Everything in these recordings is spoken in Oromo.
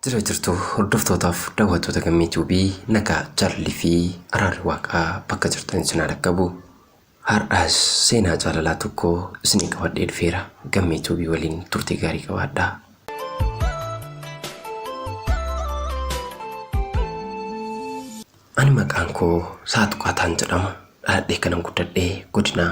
Jira jirtu hordoftootaaf daawwattoota gammee tuubii nagaa jaalalli fi araarri waaqaa bakka jirtan sinaa dhaqqabu. Har'as seenaa jaalalaa tokko isinii qabadhee dhufeera. Gammee Tuubii waliin turtii gaarii qabaadhaa. Ani maqaan koo Saaxuqaataan jedhama. Dhaladhee kanan guddadhe godina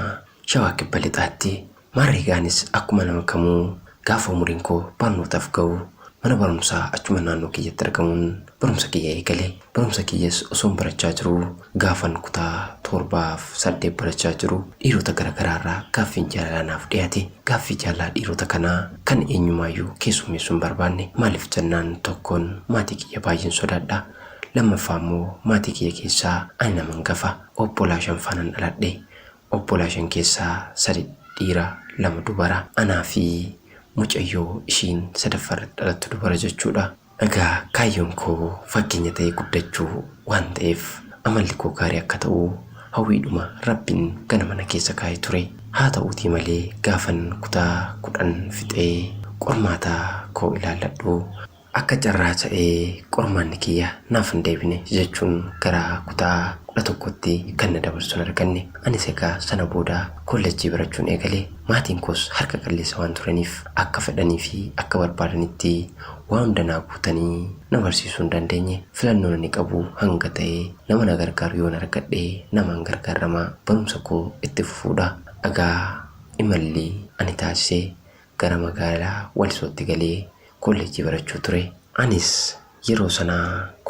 Shawaa Kibba Lixaatti Maarree anis akkuma nama kamuu gaafa umuriin koo barnootaaf gahu mana barumsaa achuma naannoo kiyyatti argamuun barumsa kiyya eegale. Barumsa kiyyas osoon barachaa jiruu gaafan kutaa torbaaf saddeet barachaa jiru dhiirota gara garaarraa gaaffiin jaalalaa naaf dhiyate. Gaaffii jaalalaa dhiirota kanaa kan eenyumaayyuu keessummeessuu hin barbaanne. Maaliif jennaan tokkoon maatii kiyya baay'een sodaadha. Lammaffaa immoo maatii kiyya keessaa ani nama hangafa. Obbolaa shanfaanan dhaladhe. obbolaa shan keessaa sadi dhiira lama dubara anaa fi mucayyoo ishiin sadaffaa irratti dhalattu dubara jechuudha. Egaa kaayyoon koo fakkeenya ta'ee guddachuu waan ta'eef amalli koo gaarii akka ta'u hawwiidhuma Rabbiin ganama na keessa kaa'e ture. Haata'uutii malee gaafan kutaa kudhan fixee qormaata koo ilaalladhu, Akka carraa ta'ee qormaanni kiyya naaf hin deebine jechuun gara kutaa 11tti kan na dabarsu hin arganne. Anis egaa sana booda koollejjii barachuun eegale. Maatiin koos harka qalleessa waan turaniif akka fedhanii fi akka barbaadanitti waa hunda naa guutanii na barsiisuu hin dandeenye. Filannoon ani qabu hanga ta'e nama na gargaaru yoon argadhe namaan gargaarramaa barumsa koo itti fufuudha. Egaa imalli ani taasise Gara magaalaa Walisootti galee kollejjii barachuu ture. Anis yeroo sana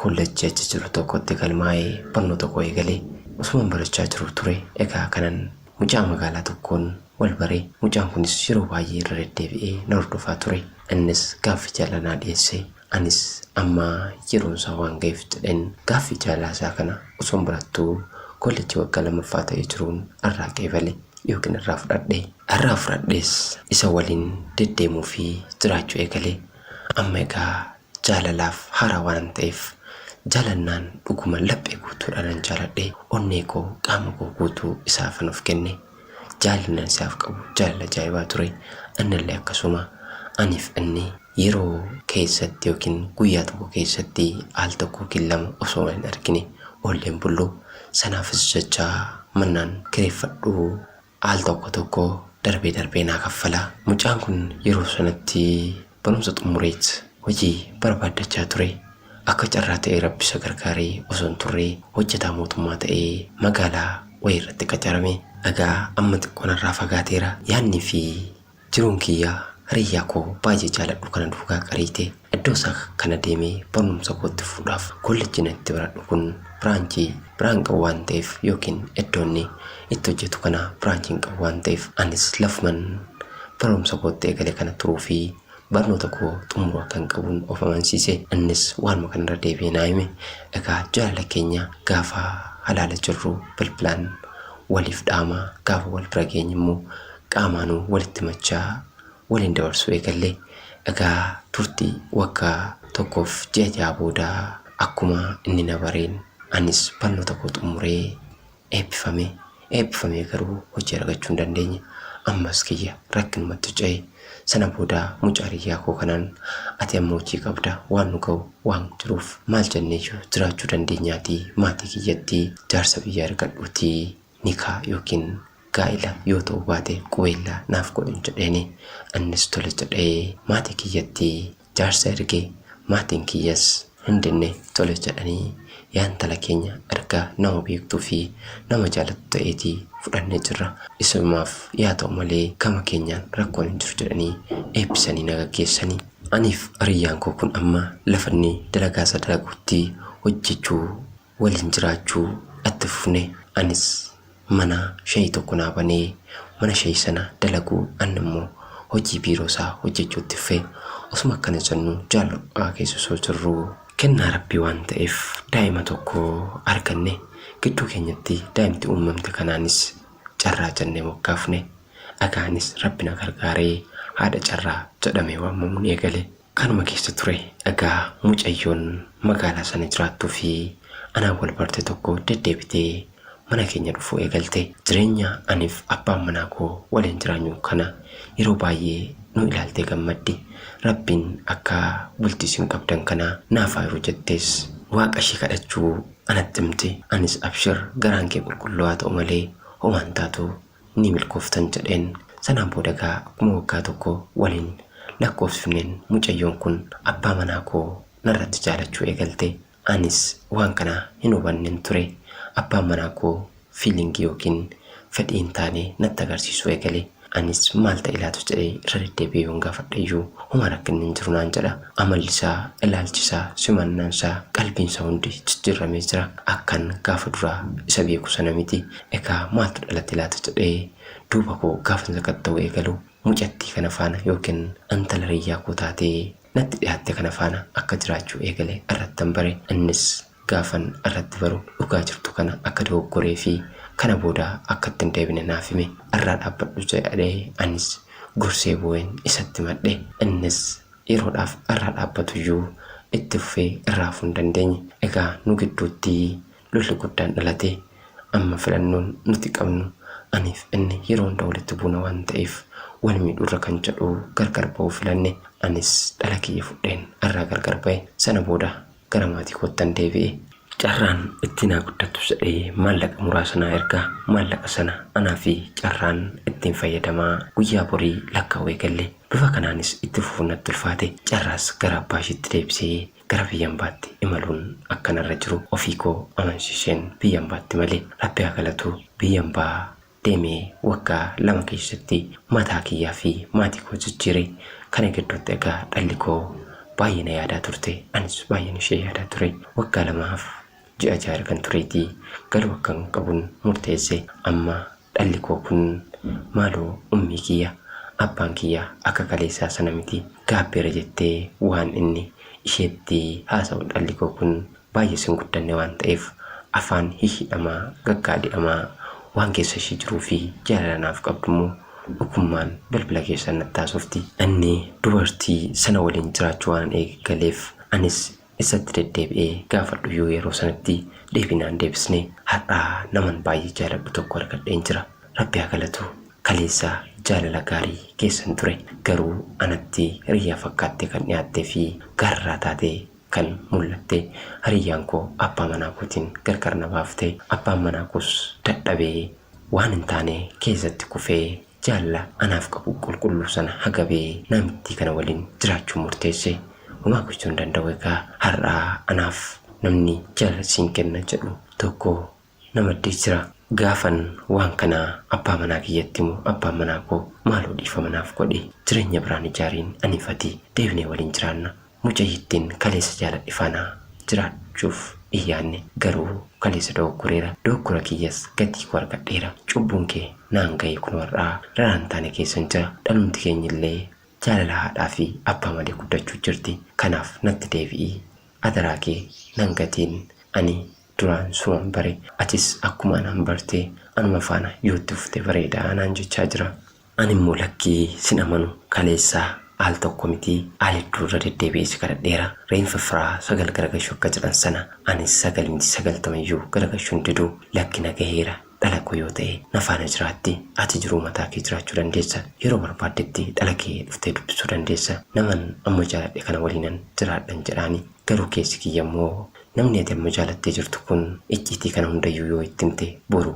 kollejjii achi jiru tokkotti galmaa'ee barnoota koo eegale. Osuman barachaa jiruu ture egaa kanan mucaa magaalaa tokkoon wal bare. Mucaan kunis yeroo baay'ee irra deddeebi'ee na hordofaa ture. Innis gaaffii jaalalaa naa dhiyeesse. Anis amma yeroon isaa waan gaheef jedheen gaaffii jaalalaa isaa kana osoon barattuu koollejjii waggaa lammaffaa ta'ee jiruun irraa qeebale yookiin irraa fudhadhe. Irraa fudhadhees isa waliin deddeemuu fi jiraachuu eegale. Amma egaa jaalalaaf haaraa waanan ta'eef jaalannaan dhuguma laphee guutuudhaanan jaaladhe, onnee koo, qaama koo guutuu isaafan of kenne. jaalannan sihaaf qabu jaalala ajaa'ibaa ture annallee akkasuma aniif inni yeroo keessatti yookiin guyyaa tokko keessatti al tokko yookiin lama osoo hin argine oolleen bullu sanaafis jecha mannaan kireeffadhu al tokko tokko darbee darbee naa kaffala mucaan kun yeroo sanatti Barumsa xumureet hojii barbaaddachaa ture. Akka carraa ta'ee Rabbi isa gargaaree osoon turree hojjetaa mootummaa ta'ee magaalaa wayii irratti qacarame. Egaa amma xiqqoo narraa fagaateera. Yaannii fi jiruun kiyya hariyaa koo baay'ee jaaladhu kana duukaa qariite. Iddoo isaa kana deemee barnumsa koo itti fufuudhaaf kollejjiin ani itti baradhu kun piraankii piraank qabu waan ta'eef yookiin iddoo inni itti hojjetu kana piraankiin qabu waan ta'eef anis lafuman barumsa kootti eegale kana turuu fi barnoota koo xumuruu akkan qabuun of amansiise innis waanuma kanarra deebi'ee naa hime egaa jaalala keenya gaafa halaala jirru bilbilaan waliif dhaama gaafa wal bira geenye immoo qaamaanuu walitti machaa waliin dabarsuu eegalle. Egaa turtii waggaa tokkoof ji'a ja'a booda akkuma inni na bareen anis barnoota koo xumuree eebbifame. Eebbifamee garuu hojii argachuu hin dandeenye. Ammas kiyya rakkinumatti ce'e. Sana booda mucaa hiriyyaa koo kanaan ati amma hojii qabda waan nu ga'u waan jiruuf maal jenneeyyuu jiraachuu dandeenyaatii maatii kiyyatti jaarsa biyyaa ergadhuutii Nikaa yookiin gaa'ila yoo ta'uu baate qubeellaa naaf godhin jedheeni. Annis tole jedhee maatii kiyyatti jaarsa erge. Maatiin kiyyas hin dinne tole jedhanii yaa intala keenya erga nama beektuu fi nama jaalattu ta'eetii fudhannee jirra. Isumaaf yaa ta'u malee gama keenyaan rakkoon hin jiru jedhanii eebbisanii na gaggeessani. Aniif hiriyyaan koo kun amma lafa inni dalagaasa dalaguutti hojjechuu waliin jiraachuu itti fufne. Anis mana shayii tokko naa banee mana shayii sana dalaguu anni immoo hojii biiroo isaa hojjechuu itti fufe. Osuma akkana jennu jaal ho'aa keessa osoo jirruu. Kennaa Rabbii waan ta'eef daa'ima tokko arganne. Gidduu keenyatti daa'imti uummamte kanaanis Carraa jennee moggaafne. Dhagaanis Rabbi na gargaaree haadha Carraa jedhamee waamamuun eegale. Kanuma keessa ture dhagaa mucayyoon magaalaa sana jiraattuu fi anaan wal barte tokko deddeebitee mana keenya dhufuu eegalte. Jireenya aniif abbaan manaa koo waliin jiraanyu kana yeroo baay'ee nu ilaaltee gammaddi. Rabbiin akka bultii isin qabdan kana naaf haa hiru jettees waaqa ishee kadhachuu anatti himte. Anis abshir garaan kee qulqulluu haa ta'u malee homaa hin taatu Ni milkooftan jedheen. Sanaan booda egaa akkuma waggaa tokko waliin lakkoofsifneen mucayyoon kun abbaa manaa koo narratti jaalachuu eegalte. Anis waan kana hin hubannen ture. Abbaan manaa koo feeling yookiin fedhii hin taane natti agarsiisuu eegale. Anis maal ta'e laata jedhee irra deddeebi'ee yoon gaafadheyyuu homaa rakkinni hin jiru naan jedha. Amallisaa, ilaalchisaa, simannansaa, qalbiinsaa hundi jijjiirramee jira. Akkan gaafa duraa isa beeku sana miti. Egaa maaltu dhalate laata jedhee duuba koo gaafan sakatta'uu eegalu mucattii kana faana yookiin intala hiriyyaa koo taatee natti dhihaatte kana faana akka jiraachuu eegale irrattan bare. Innis gaafan irratti baru dhugaa jirtu kana akka dogoggoree fi kana booda akka itti hin deebine naaf hime. Irraa dhaabbadhu jedhee anis gorsee boo'een isatti himadhe. Innis yeroodhaaf irraa dhaabbatu iyyuu itti fufee irraa hafuu hin dandeenye. Egaa nu gidduutti lolli guddaan dhalatee amma filannoon nuti qabnu aniif inni yeroo hunda walitti buuna waan ta'eef wal miidhurra kan jedhu gargar ba'uu filanne anis dhala kiyya fudheen irraa gargar ba'e sana booda gara maatii koottan deebi'e. Carraan itti naa guddattu jedhee maallaqa muraasa naa erga maallaqa sana anaa fi carraan ittiin fayyadamaa guyyaa borii lakkaa'uu eegalle bifa kanaanis itti fufuun natti ulfaate carraas gara abbaa ishiitti deebisee Gara biyya ambaatti imaluun akka narra jiru ofii koo amansiiseen biyya ambaatti imale. Rabbi haa galatu biyya ambaa deemee waggaa lama keessatti mataa kiyyaa fi maatii koo jijjiire. Kana gidduutti egaa dhalli koo baay'ee na yaadaa turte. Anis baay'een ishee yaadaa ture. Waggaa lamaaf ji'a ja'a ergan tureetii galuu akkan qabun murteesse. Amma dhalli koo kun maaloo ummii kiyya abbaan kiyya akka kaleessaa sana miti gaabbeera jettee waan inni isheetti haasa'u dhalli koo kun baay'ee sin guddanne waan ta'eef afaan hihhidhamaa gaggaadi'amaa waan keessa ishii jiruu fi jaalala naaf qabdu immoo dhukummaan bilbila keessaan natti haasofti. Anni dubartii sana waliin jiraachuu waanan eegagaleef anis isatti deddeebi'ee gaafadhu iyyuu yeroo sanatti deebii naa hin deebisne. Har'a naman baay'ee jaaladhu tokko argadheen jira. Rabbi haa galatu. Kaleessa jaalala gaarii keessan ture. Garuu anatti hiriyyaa fakkaattee kan dhiyaattee fi gaararraa taatee kan mul'atte. Hiriyyaan koo abbaa manaa kootiin gargar na baafte. Abbaan manaa koos dadhabee Waan hin taane keessatti kufee jaalala anaaf qabu qulqulluu sana hagabee naamittii kana waliin jiraachuun murteesse. Homaa gochuu hin danda'u egaa har'a anaaf namni jaalala siin kenna jedhu tokko na maddee jira. Gaafan waan kana abbaa manaa kiyyatti himu abbaan manaa koo maaloo dhiifama naaf godhi jireenya biraan ijaariin aniif ati deebinee waliin jiraanna Mucayyittiin kaleessa jaaladhe faana jiraachuuf hin yaadne. Garuu kaleessa dogoggoreera. Dogoggora kiyyas gatii koo argadheera. Cubbuun kee naan gahee kunoo har'aa raraan taane keessan jira. Dhalumti keenya illee jaalala haadhaa fi abbaa malee guddachuu jirti. Kanaaf natti deebi'i. Adaraa kee nan gatiin. Ani duraan suman bare. Atis akkuma anaan barte. Anuma faana yoo itti fufte bareeda naan jechaa jira. Ani immoo lakkii sin amanu kaleessa al tokko miti al hedduu irra deddeebi'ee si kadhadheera reenfa firaa sagal garagashu akka jedhan sana anis sagal miti sagaltama iyyuu garagashu hin didu lakki na gaheera dhala koo yoo ta'e na faana jiraatti ati jiruu mataa kee jiraachuu dandeessa yeroo barbaaddetti dhala kee dhuftee dubbisuu dandeessa naman amma jaaladhe kana waliinan jiraadhan jedhaani garuu keessi kiyya immoo namni ati amma jaalattee jirtu kun icciitii kana hundayyuu yoo itti himte boru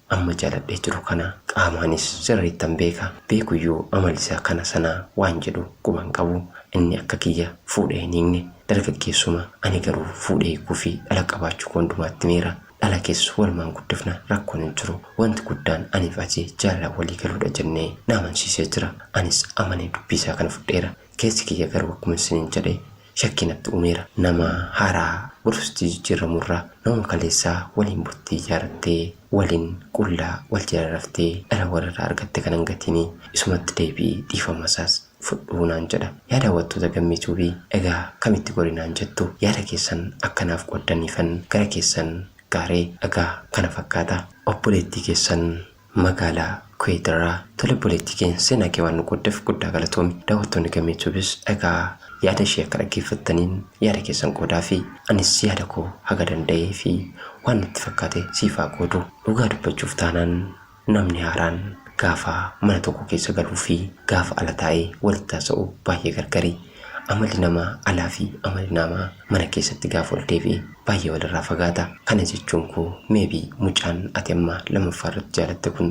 Amma jaaladhee jiru kana qaamaanis sirriittan beeka. Beekuyyuu amalisaa kana sanaa waan jedhu quba hin qabu. Inni akka kiyya fuudhee hin hiikne. Dargaggeessuma. Ani garuu fuudhee hiikuufi dhala qabaachuu koo hundumaatti himeera. Dhala keessa walumaan guddifna rakkoon hin jiru. Wanti guddaan aniif ati jaalalaan walii galuudha jennee na amansiisee jira. Anis amanee dubbiisaa kana fudheera. Keessi kiyya garuu akkuma isiniin jedhe Shakkii natti uumeera. Nama haaraa gorsutti jijjiirramuu irra namuma kaleessaa waliin bultii ijaarrattee, waliin qullaa wal jala raftee dhala wal irraa argatte kana hin gatiini. Isumatti deebi'i dhiifama isaas fudhu naan jedha. Yaa daawwattoota Gammee Tube egaa kamitti gori naan jettu? Yaada keessan akka naaf qooddaniifan gara keessan gaare. Egaa kana fakkaata. Obboleettii keessan Magaalaa Kuwait irraa. Tole obboleettii keenya seenaa kee waan nu qooddeef guddaa galatoomi. Daawwattoonni Gamee Tubes egaa yaada ishee akka dhaggeeffattaniin yaada keessan qoodaafii. Anis yaada koo haga danda'ee fi waan natti fakkaate siif haa qoodu. Dhugaa dubbachuuf taanaan namni haaraan gaafa mana tokko keessa galuu fi gaafa ala taa'ee walitti haasa'u baay'ee gargari. Amalli nama alaa fi amalli naamaa mana keessatti gaafa ol deebi'e baay'ee walirraa fagaata. Kana jechuun koo maybe mucaan ati amma lammaffaa irratti jaalatte kun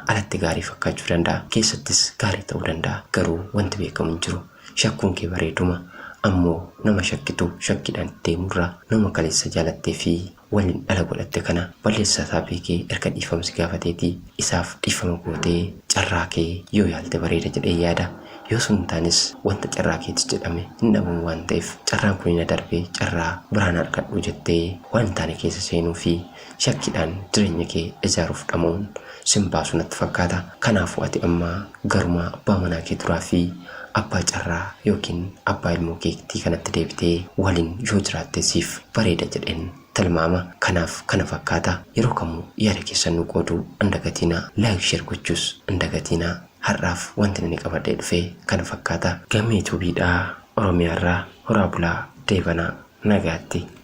alatti gaarii fakkaachuu danda'a. Keessattis gaarii ta'uu danda'a. Garuu wanti beekamu hin jiru. Shakkuun kee bareeduma. Ammoo nama shakkitu shakkiidhaan itti deemurra nama kaleessa jaalattee fi Wan dhala godhatte kana ballessa isaa beeke erga dhiifama si gaafateeti isaaf dhiifama goote carraa kee yoo yaalte bareeda jedheen yaada yoo sun hin taanes wanta carraa keetis jedhame hin dhabamu waan ta'eef carraan kuni na darbe carraa biraa na argadhu jettee waan hin taane keessa seenuu fi shakkiidhaan jireenya kee ijaaruuf dhama'uun sin baasu natti fakkaata kanaafuu ati amma Garumaa abbaa manaa kee duraa fi abbaa carraa yookiin abbaa ilmoo keektii kanatti deebitee waliin yoo jiraatte siif bareeda jedheen tilmaama. Kanaaf kana fakkaata. Yeroo kamuu yaada keessan nuu qooduu hin dagatiinaa. Like share gochuus hin dagatiinaa. Har'aaf wantin ani qabadhee dhufe kana fakkaata. Gammee Tube dha Oromiyaa irraa horaa bulaa deebanaa nagaatti.